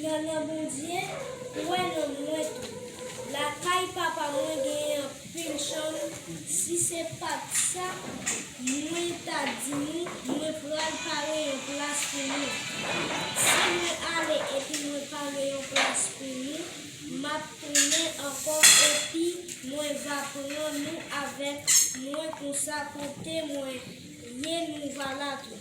Nannan Bondye wè nan mwen tou. Lakay papa mwen genyen anpil chanm si se pat sa mwen ta di nou mwen pral pare yon plas pou nou. Si mwen ale epi mwen pare yon plas pou nou map tounen ankò epi mwen va pran nou avèk mwen konsa kote mwen ye nou va la tou.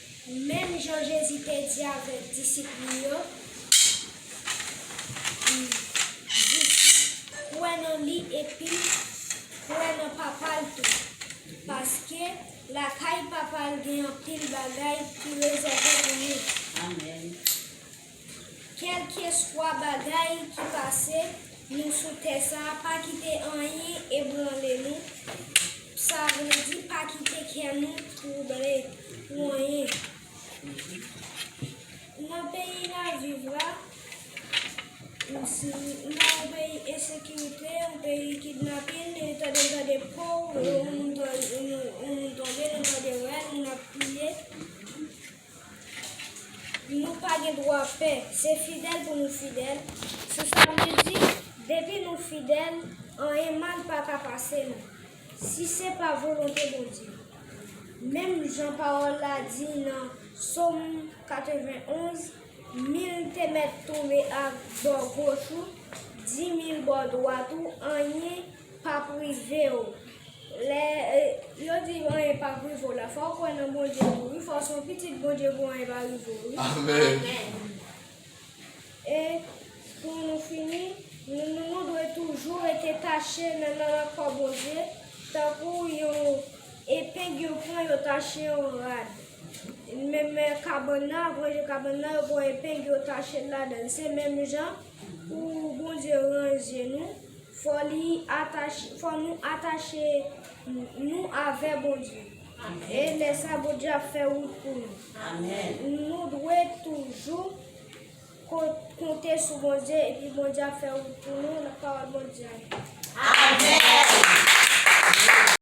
Menm jan Jezi te di avèk disip li yo, li di, Kwè nan li epi kwè nan Papa l tou, paske lakay Papa l gen anpil bagay ki rezève pou nou. Kèlkeswa bagay ki pase nou sou tè sa, pa kite anyen ebranle nou, sa vle di pa kite kè nou twouble pou anyen. Nan peyi n ap viv la, nan yon peyi ensekirite, yon peyi kidnapin, nou tande gen de pow, yon moun tonbe, nou tande rèl, moun ap kriye. Nou pa gen dwa pè, se fidèl pou nou fidèl, sou sa vle di, depi nou fidèl, anyen mal pa ka pase nou, si se pa volonte Bondye. Menm jan pawòl la di nan Som 91, Mil te mèt tonbe a bò goch ou, dimil bò dwat ou, anyen pa prive w lè yo di anyen pa prive w la fò w kwè nan Bondye tou wi fò w se yon pitit Bondye pou anyen pa rive w wi e pou nou fini nou dwe toujou rete tache nan lankò Bondye tankou yon epeng yo pran yo tache yon rad menm kabann nan apre yo kabann nan yo pran epeng yo tache l ladan l se menm jan Pou Bondye ranje nou, fò li atache, fò nou atache nou avè Bondye. E lè sa Bondye ap fè wout pou nou. Nou dwe toujou konte sou Bondye epi Bondye ap fè wout pou nou nan pawòl Bondye a.